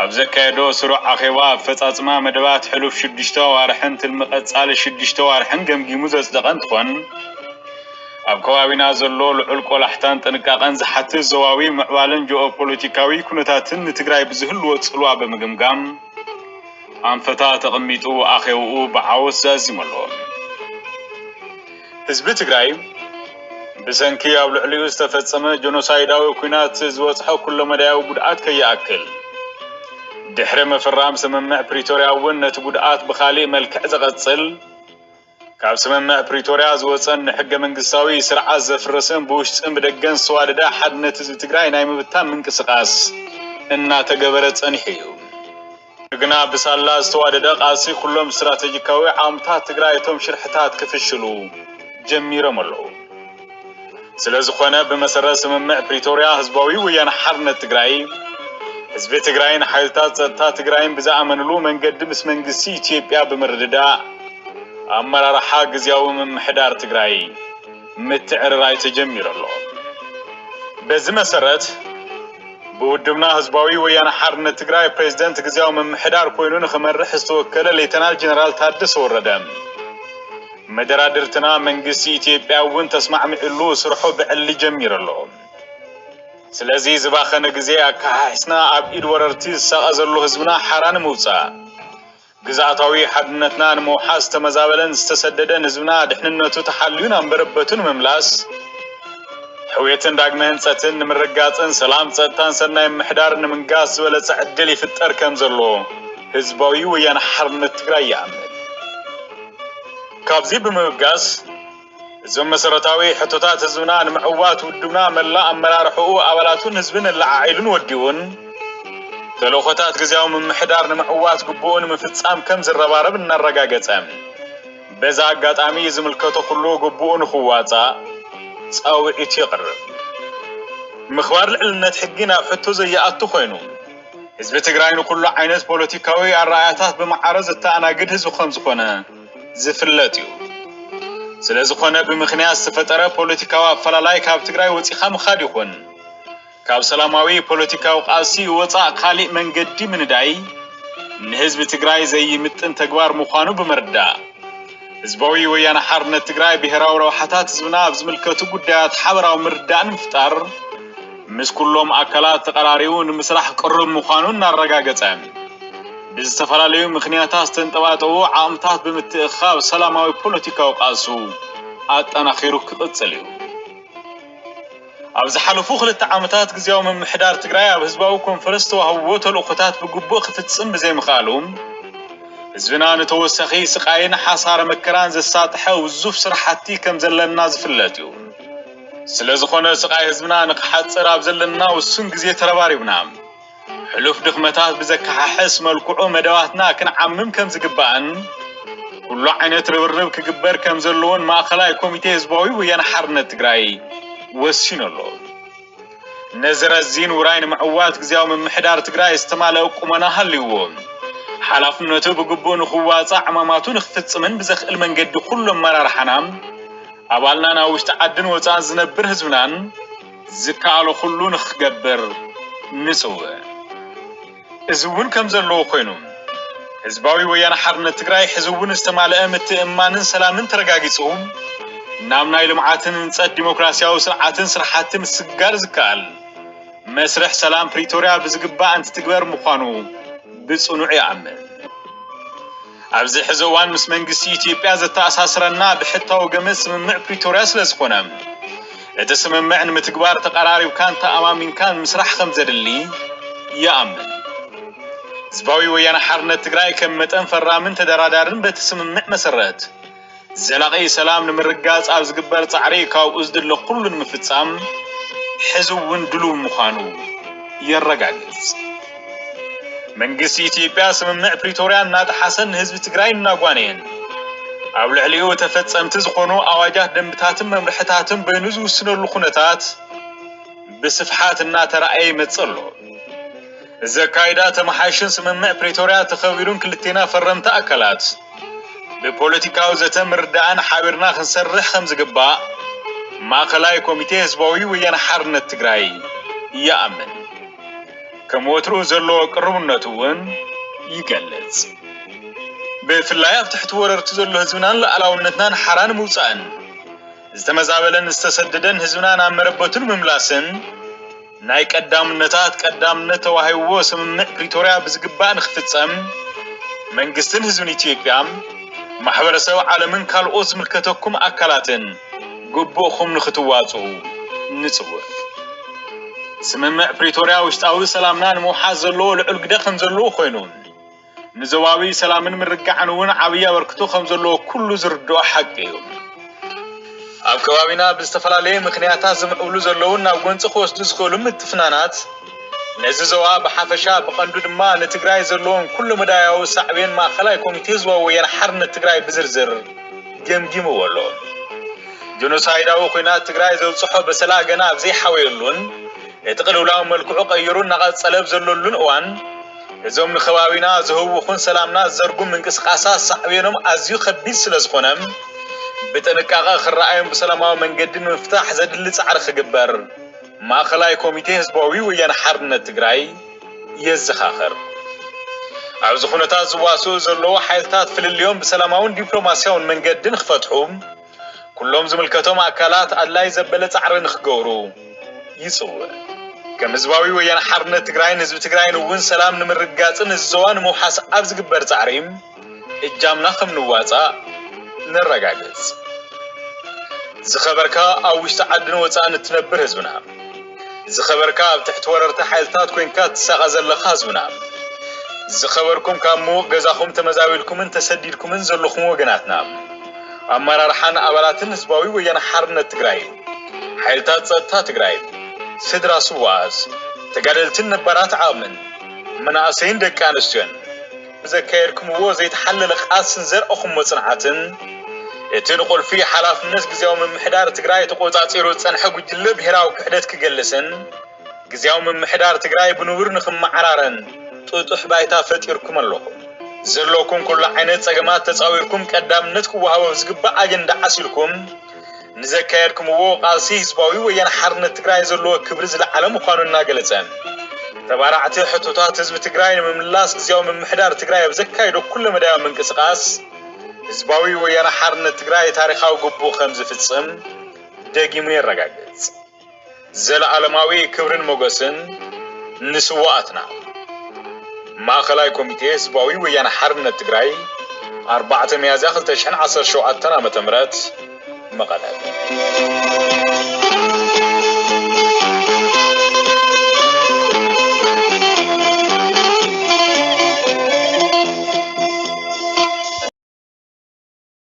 ኣብ ዘካየዶ ስሩዕ ኣኼባ ኣፈፃፅማ መደባት ሕሉፍ ሽዱሽተ ኣዋርሕን ትልሚ ቐፃሊ ሽዱሽተ ኣዋርሕን ገምጊሙ ዘፅደቐ እንትኾን ኣብ ከባቢና ዘሎ ልዑል ቆላሕታን ጥንቃቐን ዝሓትት ዞባዊ ምዕባለን ጂኦፖለቲካዊ ኩነታትን ንትግራይ ብዝህልዎ ፅልዋ ብምግምጋም ኣንፈታት ኣቐሚጡ ኣኼብኡ ብዓወት ዛዚሙ ኣሎ። ህዝቢ ትግራይ ብሰንኪ ኣብ ልዕሊኡ ዝተፈጸመ ጀኖሳይዳዊ ኲናት ዝበጽሖ ኩለመዳያዊ ጉድኣት ከይኣክል ድሕሪ ምፍራም ስምምዕ ፕሪቶርያ እውን ነቲ ጉድኣት ብኻሊእ መልክዕ ዘቐጽል ካብ ስምምዕ ፕሪቶርያ ዝወፀን ንሕገ መንግስታዊ ስርዓት ዘፍርስን ብውሽጥን ብደገን ዝተዋደደ ሓድነት ህዝቢ ትግራይ ናይ ምብታን ምንቅስቓስ እናተገበረ ፀኒሑ እዩ። ግና ብሳላ ዝተዋደደ ቃልሲ ኩሎም ስትራቴጂካዊ ዓቕምታት ትግራይ እቶም ሽርሕታት ክፍሽሉ ጀሚሮም ኣለዉ። ስለዝኾነ ብመሰረት ስምምዕ ፕሪቶርያ ህዝባዊ ወያነ ሓርነት ትግራይ ህዝቢ ትግራይን ሓይልታት ፀጥታ ትግራይን ብዝኣመንሉ መንገዲ ምስ መንግስቲ ኢትዮጵያ ብምርድዳእ ኣመራርሓ ግዝያዊ ምምሕዳር ትግራይ ምትዕርራይ ተጀሚሩ ኣሎ። በዚ መሰረት ብውድብና ህዝባዊ ወያነ ሓርነት ትግራይ ፕሬዚደንት ግዝያዊ ምምሕዳር ኮይኑ ንክመርሕ ዝተወከለ ሌተናል ጀነራል ታደሰ ወረደ መደራድርትና መንግስቲ ኢትዮጵያ እውን ተስማዕሚዕሉ ስርሑ ብዕሊ ጀሚሩ ኣሎ። ስለዚ ዝባኸነ ግዜ ኣካሓሒስና ኣብ ኢድ ወረርቲ ዝሳቐ ዘሎ ህዝብና ሓራ ንምውፃእ ግዝኣታዊ ሓድነትና ንምውሓስ ዝተመዛበለን ዝተሰደደን ህዝብና ድሕንነቱ ተሓልዩ ናብ መረበቱ ንምምላስ፣ ሕውየትን ዳግመ ህንፀትን ንምርግጋፅን ሰላም፣ ፀጥታን ሰናይ ምምሕዳርን ንምንጋስ ዝበለፀ ዕድል ይፍጠር ከምዘሎ ህዝባዊ ወያነ ሓርነት ትግራይ ይኣምን። ካብዚ ብምብጋስ፣ እዞም መሰረታዊ ሕቶታት ህዝብና ንምዕዋት ውድብና መላእ ኣመራርሕኡ ኣባላቱን ህዝብን ኣላዓዒሉን ወዲቡን ተልእኾታት ግዝያዊ ምምሕዳር ንምዕዋት ግቡኡ ንምፍጻም ከም ዝረባረብ እናረጋገጸ በዛ ኣጋጣሚ ዝምልከቶ ኩሉ ግቡኡ ንኽዋጻእ ጻውዒቱ የቕርብ። ምኽባር ልዕልነት ሕጊ ናብ ሕቶ ዘይኣቱ ኮይኑ ህዝቢ ትግራይ ንኩሉ ዓይነት ፖለቲካዊ ኣረኣእያታት ብማዕረ ዘተኣናግድ ህዝቢ ከምዝኾነ ዝፍለጥ እዩ። ስለዝኾነ ብምኽንያት ዝተፈጠረ ፖለቲካዊ ኣፈላላይ ካብ ትግራይ ወፂኻ ምኻድ ይኹን ካብ ሰላማዊ ፖለቲካዊ ቃልሲ ወፃእ ካሊእ መንገዲ ምንዳይ ንህዝቢ ትግራይ ዘይምጥን ተግባር ምዃኑ ብምርዳእ ህዝባዊ ወያነ ሓርነት ትግራይ ብሄራዊ ረብሓታት ህዝብና ኣብ ዝምልከቱ ጉዳያት ሓበራዊ ምርዳእ ንምፍጣር ምስ ኩሎም ኣካላት ተቐራሪቡ ንምስራሕ ቅሩብ ምዃኑ እናረጋገፀ ብዝተፈላለዩ ምኽንያታት ዝተንጠባጠቡ ዓቕምታት ብምትእኽኻብ ሰላማዊ ፖለቲካዊ ቃልሱ ኣጠናኺሩ ክቕፅል እዩ። ኣብ ዝሓለፉ ክልተ ዓመታት ግዝያዊ ምምሕዳር ትግራይ ኣብ ህዝባዊ ኮንፈረንስ ዝተዋህብዎ ተልእኾታት ብግቡእ ክፍፅም ብዘይምኽኣሉ ህዝብና ንተወሳኺ ስቓይን ሓሳረ መከራን ዘሳጥሐ ውዙፍ ስራሕቲ ከም ዘለና ዝፍለጥ እዩ። ስለዝኾነ ስቓይ ህዝብና ንክሓፅር ኣብ ዘለና ውሱን ግዜ ተረባሪብና ሕሉፍ ድኽመታት ብዘከሓሕስ መልክዑ መደባትና ክንዓምም ከምዝግባእን ኩሉ ዓይነት ርብርብ ክግበር ከምዘለዎን ማእኸላይ ኮሚቴ ህዝባዊ ወያነ ሓርነት ትግራይ ወሲኑ ኣሎ። ነዚ ረዚን ውራይ ንምዕዋት ግዜያዊ ምምሕዳር ትግራይ ዝተማለኣ ቁመና ሃልይዎ ሓላፍነቱ ብግቡእ ንኽዋፃእ ዕማማቱ ንኽፍፅምን ብዘኽእል መንገዲ ኩሉ ኣመራርሓና ኣባልናን ኣብ ውሽጢ ዓድን ወፃእን ዝነብር ህዝብናን ዝከኣሎ ኩሉ ንኽገብር ንፅውዕ። እዚ እውን ከምዘለዎ ኮይኑ ህዝባዊ ወያነ ሓርነት ትግራይ ሕዚ እውን ዝተማለኣ ምትእምማንን ሰላምን ተረጋጊፁ ናብ ናይ ልምዓትን ህንፀት ዲሞክራሲያዊ ስርዓትን ስራሕቲ ምስግጋር ዝከኣል መስርሕ ሰላም ፕሪቶሪያ ብዝግባእ እንትትግበር ምዃኑ ብፅኑዕ ይኣምን። ኣብዚ ሕዚ እዋን ምስ መንግስቲ ኢትዮጵያ ዘተኣሳስረና ብሕታዊ ገመድ ስምምዕ ፕሪቶርያ ስለዝኾነ እቲ ስምምዕ ንምትግባር ተቐራሪብካን ተኣማሚንካን ምስራሕ ከምዘድሊ ይኣምን። ህዝባዊ ወያነ ሓርነት ትግራይ ከም መጠን ፈራምን ተደራዳርን በቲ ስምምዕ መሰረት ዘላቒ ሰላም ንምርግጋፅ ኣብ ዝግበር ፃዕሪ ካብኡ ዝድለ ኩሉ ንምፍፃም ሕዚ እውን ድሉው ምዃኑ የረጋግፅ። መንግስቲ ኢትዮጵያ ስምምዕ ፕሪቶርያ እናጠሓሰን ንህዝቢ ትግራይ እናጓነየን ኣብ ልዕሊኡ ተፈፀምቲ ዝኾኑ ኣዋጃት ደንብታትን መምርሕታትን በይኑ ዝውስነሉ ኩነታት ብስፍሓት እናተረኣየ ይመፅእ ኣሎ። እዚ ኣካይዳ ተመሓይሹን ስምምዕ ፕሪቶርያ ተኸቢሩን ክልቴና ፈረምቲ ኣካላት ብፖለቲካዊ ዘተ ምርድዳእን ሓቢርና ክንሰርሕ ከምዝግባእ ማእኸላይ ኮሚቴ ህዝባዊ ወያነ ሓርነት ትግራይ ይኣምን። ከም ወትሩ ዘለዎ ቅርቡነቱ እውን ይገልፅ። ብፍላይ ኣብ ትሕቲ ወረርቲ ዘሎ ህዝብናን ሉኣላውነትናን ሓራ ንምውፃእን ዝተመዛበለን ዝተሰደደን ህዝብና ናብ መረበቱ ንምምላስን ናይ ቀዳምነታት ቀዳምነት ተዋሂብዎ ስምምዕ ፕሪቶርያ ብዝግባእ ንክፍፀም መንግስትን ህዝብን ኢትዮጵያ፣ ማሕበረሰብ ዓለምን ካልኦት ዝምልከተኩም ኣካላትን ግቡእኹም ንክትዋፅኡ ንፅውዕ። ስምምዕ ፕሪቶርያ ውሽጣዊ ሰላምና ንምውሓስ ዘለዎ ልዑል ግደ ከምዘለዎ ኮይኑ፣ ንዞባዊ ሰላምን ምርግጋዕን እውን ዓብዪ ኣበርክቶ ከም ዘለዎ ኩሉ ዝርድኦ ሓቂ እዩ። ኣብ ከባቢና ብዝተፈላለየ ምኽንያታት ዝምዕብሉ ዘለውን ናብ ጎንፂ ክወስዱ ዝኽእሉ ምትፍናናት ነዚ ዞባ ብሓፈሻ ብቐንዱ ድማ ንትግራይ ዘለዎም ኩለመዳያዊ ሳዕቤን ማእኸላይ ኮሚቴ ህዝባዊ ወያነ ሓርነት ትግራይ ብዝርዝር ገምጊምዎ ኣሎ። ጆኖሳይዳዊ ኹናት ትግራይ ዘብፅሖ በሰላ ገና ኣብዘይሓወየሉን እቲ ቅልውላው መልክዑ ቀይሩ እናቐፀለ ኣብዘለሉን እዋን እዞም ንከባቢና ዝህውኹን ሰላምና ዝዘርጉን ምንቅስቓሳት ሳዕቤኖም ኣዝዩ ከቢድ ስለዝኾነ ብጥንቃቐ ክረኣዩን ብሰላማዊ መንገዲ ንምፍታሕ ዘድሊ ፃዕሪ ክግበር ማእኸላይ ኮሚቴ ህዝባዊ ወያነ ሓርነት ትግራይ የዘኻኽር። ኣብዚ ኩነታት ዝዋስኡ ዘለዉ ሓይልታት ፍልልዮም ብሰላማውን ዲፕሎማስያውን መንገዲ ንክፈትሑ፣ ኩሎም ዝምልከቶም ኣካላት ኣድላይ ዘበለ ፃዕሪ ንክገብሩ ይፅውዕ። ከም ህዝባዊ ወያነ ሓርነት ትግራይን ህዝቢ ትግራይን እውን ሰላም ንምርግጋፅን እዚ ዞባ ንምውሓስ ኣብ ዝግበር ፃዕሪ እጃምና ከም ንዋፃእ ነረጋግፅ። ዝኸበርካ ኣብ ውሽጢ ዓድን ወፃእን እትነብር ህዝብና። ዝኸበርካ ኣብ ትሕቲ ወረርቲ ሓይልታት ኮይንካ እትሳቐ ዘለኻ ህዝብና። ዝኸበርኩም ካብ ምዉቕ ገዛኹም ተመዛቢልኩምን ተሰዲድኩምን ዘለኹም ወገናትና። ኣመራርሓን ኣባላትን ህዝባዊ ወያነ ሓርነት ትግራይን ሓይልታት ፀጥታ ትግራይን ስድራ ስውኣት ተጋደልትን ነባራት ዓቕምን መናእሰይን ደቂ ኣንስትዮን ብዘካየድኩምዎ ዘይተሓለለ ቃልስን ዘርኣኹምዎ ፅንዓትን እቲ ንቁልፊ ሓላፍነት ግዝያዊ ምምሕዳር ትግራይ ተቖፃፂሩ ዝፀንሐ ጉጅለ ብሄራዊ ክሕደት ክገልስን ግዝያዊ ምምሕዳር ትግራይ ብንቡር ንክመዓራረን ጥጡሕ ባይታ ፈጢርኩም ኣለኹም። ዘለኩም ኩሉ ዓይነት ፀገማት ተፃዊርኩም ቀዳምነት ክወሃቦ ዝግባእ ኣጀንዳ ዓሲልኩም ንዘካየድኩምዎ ቃልሲ ህዝባዊ ወያነ ሓርነት ትግራይ ዘለዎ ክብሪ ዝለዓለ ምዃኑ እናገለፀ ተባራዕቲ ሕቶታት ህዝቢ ትግራይ ንምምላስ ግዝያዊ ምምሕዳር ትግራይ ኣብ ዘካይዶ ኩለመዳያዊ ምንቅስቃስ ህዝባዊ ወያነ ሓርነት ትግራይ ታሪኻዊ ግቡኡ ከምዝፍፅም ደጊሙ የረጋግፅ። ዘለኣለማዊ ክብርን ሞገስን ንስዋኣትና! ማእኸላይ ኮሚቴ ህዝባዊ ወያነ ሓርነት ትግራይ ኣርባዕተ ሚያዝያ ክልተ ሽሕን ዓሰርተ ሸውዓተን ዓመተ ምህረት መቐለ።